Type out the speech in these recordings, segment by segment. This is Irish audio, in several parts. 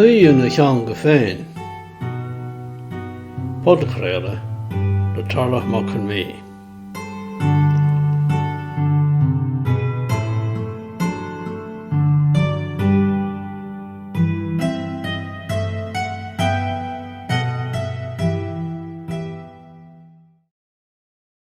Aoi ina theanga féin. Podchraoladh le Tarlach Mac Con Mí.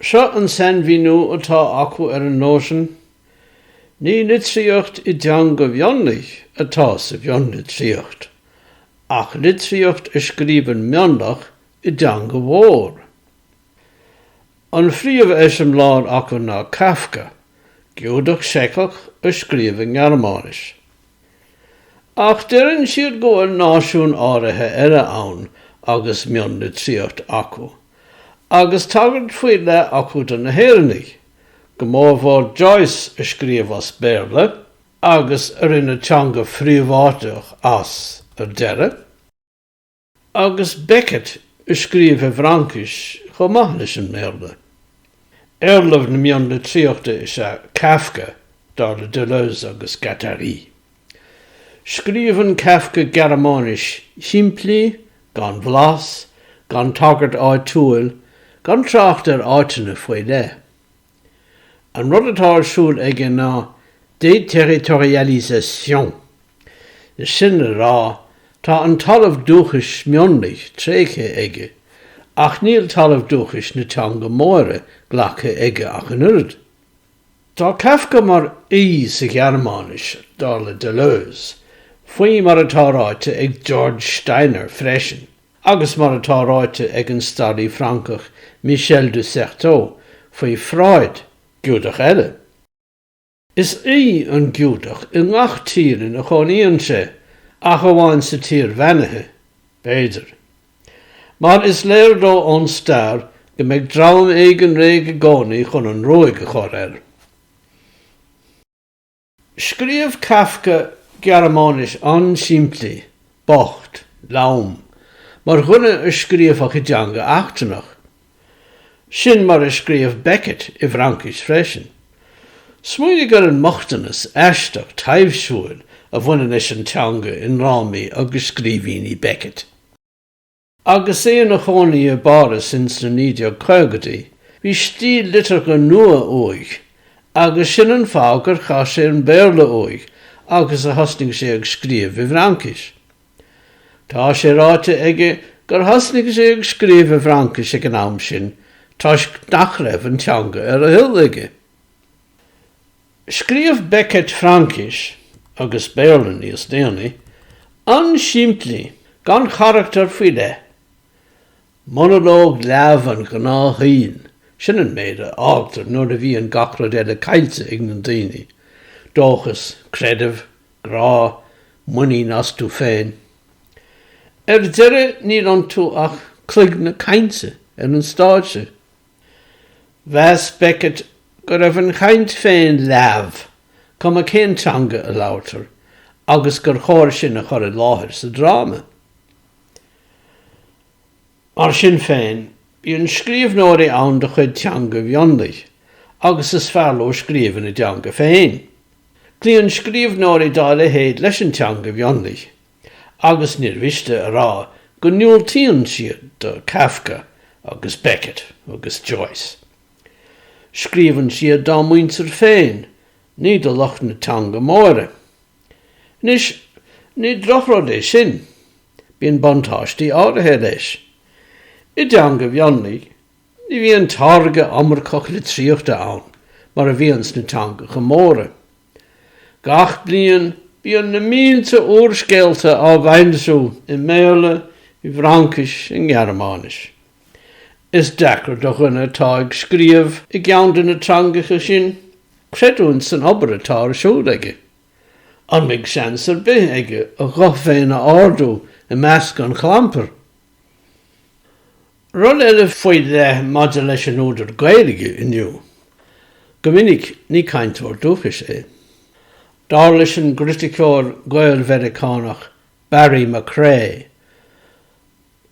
Seo an sainmhíniú atá acu ar an nóisean, Ní litríocht i dteanga mhionlaigh atá sa mhionlitríocht, ach litríocht a scríobhann mionlach i dteanga mhór. An phríomheiseamláir acu ná Kafka, Giúdach Seiceach a scríobh i nGearmáinis. Ach deireann siad go bhfuil náisiún áirithe eile ann agus mionlitríocht acu, agus tagairt faoi leith acu do na hÉireannaigh, go mórmhór Joyce a scríobh as Béarla agus a rinne teanga phríobháideach as ar deireadh. Agus Beckett a scríobh i bhFraincis chomh maith leis an mBéarla. Éarlamh na mionlitríochta is ea Kafka, dar le Deleuze agus Guattari. Scríobhann Kafka Gearmáinis shimplí, gan bhlas, gan tagairt áitiúil, gan trácht ar áiteanna faoi leith. An rud atá ar siúl aige ná déterritorialisation, is sin le rá, tá an talamh dúchais mionlaigh tréigthe aige, ach níl talamh dúchais na teanga móire glactha aige ach an oiread. Tá Kafka mar aoi sa Ghearmáinis, dar le Deleuze, faoi mar atá ráite ag George Steiner freisin. Agus mar atá ráite ag an staraí Francach Michel de Certeau faoi Freud, Giúdach eile, is aoi an Giúdach i ngach tír ina gcónaíonn sé, ach amháin sa Tír Bheannaithe, b'fhéidir. Mar is léir dó ón stair go mbeidh dream éigin réidh i gcónaí chun an ruaig a chur air. Scríobh Kafka Gearmáinis an-simplí, bocht, lom, mar dhuine a scríobhadh i dteanga eachtrannach. Sin mar a scríobh Beckett i bhFraincis freisin. Smaoinigh ar an mbochtanas aisteach taibhsiúil a bhaineann leis an teanga i ndrámaí agus scríbhínní Beckett. Agus é ina chónaí i bPáras ins na 1950idí, bhí stíl liteartha nua uaidh, agus sin an fáth gur chaith sé an Béarla uaidh agus a thosnaigh sé ag scríobh i bhFraincis. Tá sé ráite aige gur thosnaigh sé ag scríobh i bhFraincis ag an am sin toisc nach raibh an teanga ar a thoil aige. Scríobh Beckett Fraincis agus Béarla níos déanaí, an-simplí, gan charachtar faoi leith. Monalóg leamh an ghnáthshaoil, sin an méid a fhágtar nuair a bhíonn gach rud eile caillte ag na daoine, dóchas, creideamh, grá, muinín astu féin. Ar deireadh níl iontu ach cloigne cainte ar an stáitse. Mheas Beckett go raibh an chaint féin leamh, cuma cén teanga a labhartar, agus gur chóir sin a chur i láthair sa dráma. Mar sin féin, bíonn scríbhneoirí ann de chuid teanga mhionlaigh agus is fearr leo scríobh ina dteanga féin. Cloíonn scríbhneoirí dá leithéid leis an teanga mhionlaigh agus níor mhiste a rá go ndiúltaíonn siad do Kafka agus Beckett agus Joyce. Scríobhann siad dá muintir féin, ní do lucht na teanga móire. Anois, ní drochrud é sin, bíonn buntáistí áirithe leis. I dteanga mhionlaigh, ní bhíonn táirge iomarcach litríochta ann mar a bhíonn sna teangacha móra. Gach bliain, bíonn na mílte úrscéalta á bhfoilsiú i mBéarla, i bhFraincis, i nGearmáinis. Is deacair do dhuine atá ag scríobh i gceann de na teangacha sin creidiúint san obair atá ar siúl aige. An mbeidh seans ar bith aige a ghuth féin a ardú i measc an chlampair? Rud eile faoi leith maidir leis an údar Gaeilge inniu, go minic ní cainteoir dúchais é. Dar leis an gcriticeoir Gael-Mheiriceánach Barry McCrea,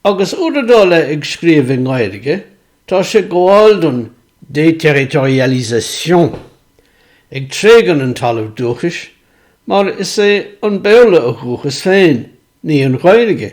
agus údar dá leithéid ag scríobh i nGaeilge, tá sé ag gabháil don déterritorialisation, ag tréigean an talamh dúchais, mar is é an Béarla a dhúchas féin, ní an Ghaeilge.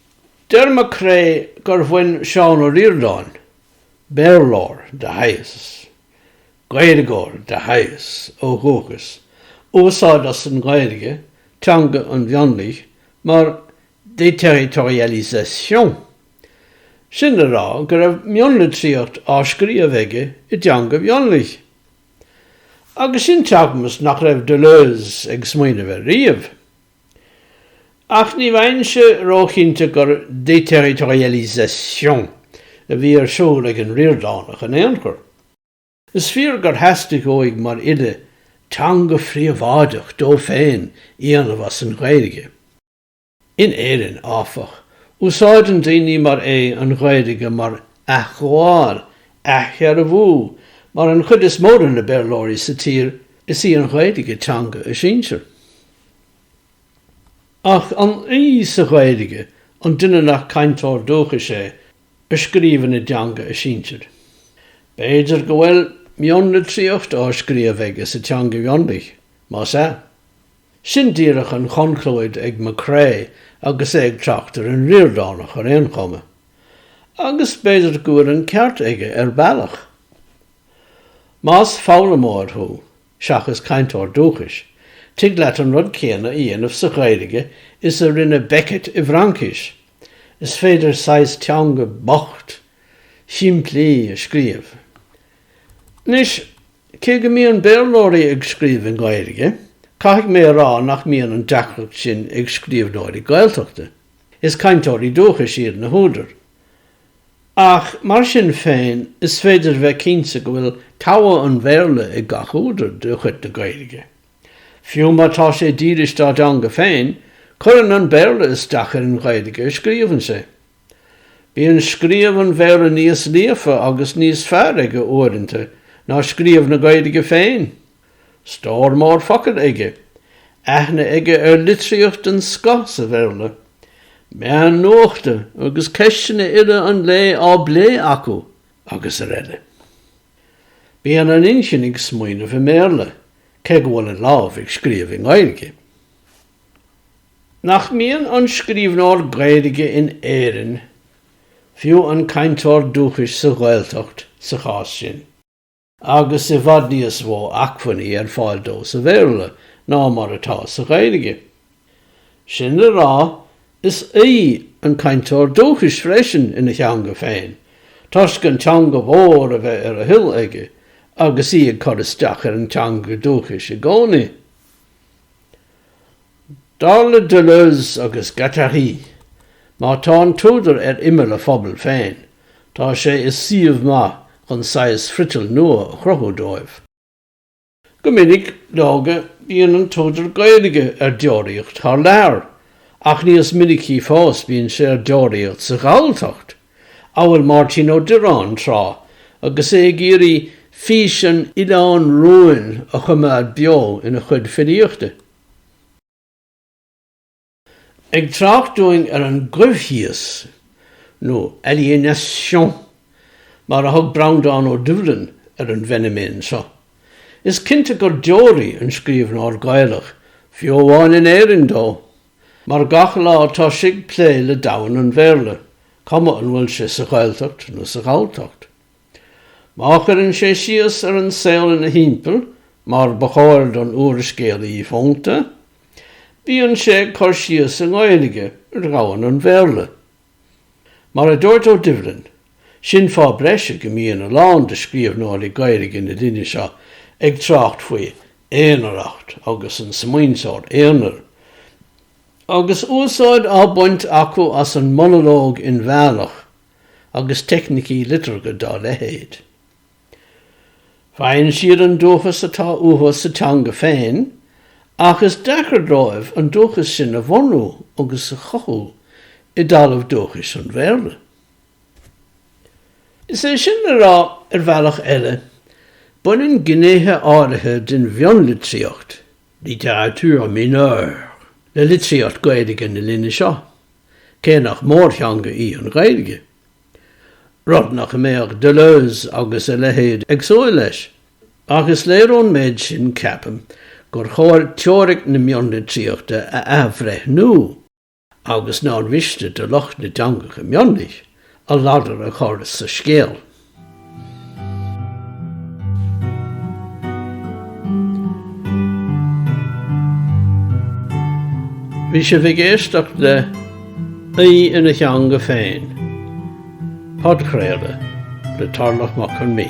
Deir McCrea gur bhain Seán Ó Ríordáin, Béarlóir de shaghas, Gaeilgeoir de shaghas ó dhúchas, úsáid as an nGaeilge, teanga an mhionlaigh, mar déterritorialisation, sin le rá go raibh mionlitríocht á scríobh aige i dteanga mhionlaigh. Agus sin teagmhas nach raibh Deleuze ag smaoineamh air riamh. Ach ní bheinnse róchinnte gur déterritorialisation a bhí ar siúl ag an Ríordánach in aon chor. Is fíor gur theastaigh uaidh mar fhile teanga phríobháideach dó féin a dhéanamh as an Ghaeilge. In Éirinn, áfach, úsáideann daoine mar é an Ghaeilge mar athghabháil, athdhearbhú, mar don chuid is mó de na Béarlóirí sa tír, is í an Ghaeilge teanga a sinsir. Ach an aoi sa Ghaeilge an duine nach cainteoir dúchais é a scríobhann i dteanga a sinsir? B'fhéidir go bhfuil mionlitríocht á scríobh aige sa teanga mhionlaigh, más ea? Sin díreach an chonclúid ag McCrea agus é ag trácht ar an Ríordánach, ar aon chuma. Agus b'fhéidir go bhfuil an ceart aige, ar bhealach. Más foghlaimeoir thú, seachas cainteoir dúchais, tig leat an rud céanna a dhéanamh sa Ghaeilge is a rinne Beckett i bhFraincis, is féidir saghas teanga bhocht, shimplí a scríobh. Anois, cé go mbíonn Béarlóirí ag scríobh i nGaeilge, caithfidh mé a rá nach mbíonn an deacracht sin ag scríbhneoirí Gaeltachta, is cainteoirí dúchais iad na húdair, Ach mar sin féin, is féidir a bheith cinnte go bhfuil togha an Bhéarla ag gach údar de chuid na Gaeilge. Fiú má tá sé dílis dá dteanga féin, cuireann an Béarla isteach ar an Ghaeilge a scríobhann sé. Bíonn scríobh an Bhéarla níos líofa agus níos fearr aige uaireanta ná scríobh na Gaeilge féin! Stór mór focal aige, aithne aige ar litríocht den scoth sa Bhéarla, meáin nuachta agus ceisteanna uile an lae á bplé acu agus ar eile. Bíonn an inchinn ag smaoineamh i mBéarla, cé go bhfuil an lámh ag scríobh i nGaeilge. Nach mbíonn an scríbhneoir Gaeilge in Éirinn, fiú an cainteoir dúchais sa Ghaeltacht sa chás sin, agus i bhfad níos mó acmhainní ar fáil dó sa Bhéarla ná mar atá sa Ghaeilge. Sin le rá, is aoí an cainteoir dúchais freisin ina theanga féin, toisc an teanga mhór a bheith ar a thoil aige agus í ag cur isteach ar an teanga dúchais i gcónaí. Dar le Deleuze agus Guattari, má tá an t-údar ar imeall a phobail féin, tá sé i suíomh maith chun saghas friotail nua a chruthú dóibh. Go minic, leoga, bíonn an t-údar Gaeilge ar deoraíocht thar lear, ach níos minicí fós bíonn sé ar deoraíocht sa Ghalltacht, amhail Máirtín Ó Direáin tráth agus é ag iarraidh fís an oileáin rúin a choimeád beo ina chuid filíochta. Ag trácht dúinn ar an gcoimhthíos, nó aliénation mar a thug Breandán Ó Doibhlin ar an bhfeiniméan seo, is cinnte gur deoraí an scríbhneoir Gaelach, fiú amháin in Éirinn dó, mar gach lá tá sé ag plé le domhan an Bhéarla, cuma an bhfuil sé sa Ghaeltacht nó sa Ghalltacht. Má chuireann sé síos ar an saol ina thimpeall mar ba chóir don úrscéalaí fónta, bíonn sé ag cur síos i nGaeilge ar dhomhan an Bhéarla. Mar a dúirt Ó Doibhlin, sin fáth breise go mbíonn a lán de scríobhnóirí Gaeilge na linne seo ag trácht faoi aonaracht agus an smaointeoir aonair, agus úsáid á baint acu as an monalóg inmheánach agus teicnicí liteartha dá leithéid. Faigheann siad an dúchas atá uathu sa teanga féin ach is deacair dóibh an dúchas sin a bhunú agus a chothú i dtalamh dúchais an Bhéarla. Is é sin le rá, ar bhealach eile, baineann gnéithe áirithe den mhionlitríocht Littérature mineure le litríocht Gaeilge na linne seo, cé nach mórtheanga í an Ghaeilge, rud nach mbeadh Deleuze agus a leithéid ag súil leis, ach is léir ón méid sin, ceapaim, gur chóir teoiric na mionlitríochta a athbhreithniú. agus nár mhiste do lucht na dteangacha mionlaigh a ladar a chur sa scéal. Bhí sibh ag éisteacht le 'Aoi ina Theanga Féin', podchraoladh le Tarlach Mac Con Mí.